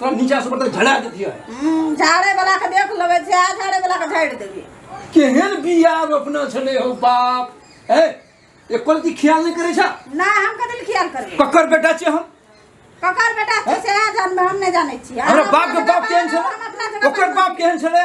तोरा नीचा से ऊपर तक झड़ा देती है हम्म, झाड़े वाला के देख लेबे छै आ झाड़े वाला के झाड़ि देबे केहन बिया रोपना छले हो बाप है एक कोलती ख्याल नहीं करे छा ना हम कथी ले खियाल करबे ककर बेटा छे हम ककर बेटा छै से आ जानबे हम नहि जानै छी हमरा बाप के बाप केहन छले ओकर बाप केहन छले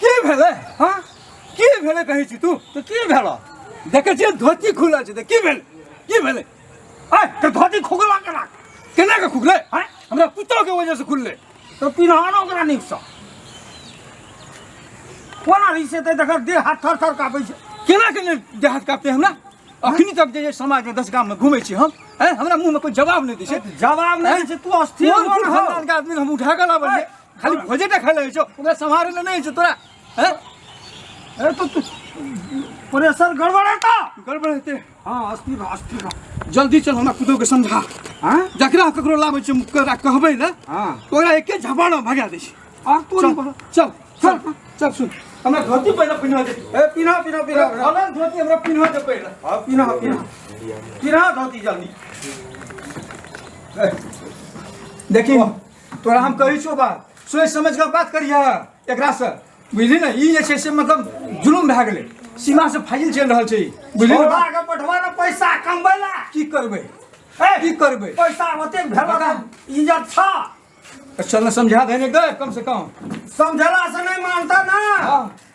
की भेलै हाँ की भेलै कहै छी तू तऽ की भेलऽ देखै छियै धोती खुलल छै तऽ की भेलै की भेलै आय तऽ धोती खुगला केना केना के खुगलै आय हमरा पुतोके वजहसँ खुललै तऽ पिनहानो ओकरा नीकसँ कोना रहै छै तऽ देखल देह हाथ थर थर कापै छै केना के नहि देह हाथ कापतै हमरा अखनी तक जे समाजमे दस गाममे घुमै छी हम आय हमरा मुँहमे कोइ जवाब नहि दै छै जवाब नहि दै छै तू अस्थिर कोन हो ने। फुटबॉल के आदमी हम उठा के लाबै खाली भोजेटा खाइ लगै छौ ओकरा सम्हारै लए नहि छौ तोरा हैं अरे तो तू प्रेशर गड़बड़ है का गड़बड़ हेतै हाँ अस्थिर रह अस्थिर रह जल्दी चल हमरा कुदो के समझा हाँ जकरा ककरो लाबै छै ओकरा कहबै ने हाँ तो ओकरा एके झपाड़ में भगा दै छै आग तो चल नहीं चल चल चल सुन हमरा धोती पहिने पहिना दे ए पीना पीना पीना हलन धोती हमरा पहिना दे पहिने हाँ पीना पीना पीना धोती जल्दी देखी तोरा हम कहै छौ बात सोचि समझ कऽ बात करिहऽ एकरासँ बुझली ने ई जे छै से मतलब जुलुम भए गेलै सीमा से फाजिल चलि रहल छै बुझली ने बात? के पठवा ने पैसा कमबै ला की करबै ए, की करबै पैसा ओते भेला बता। इज्जत छ चल ने समझा देने गए कम से कम समझला से नहीं मानता ना हाँ।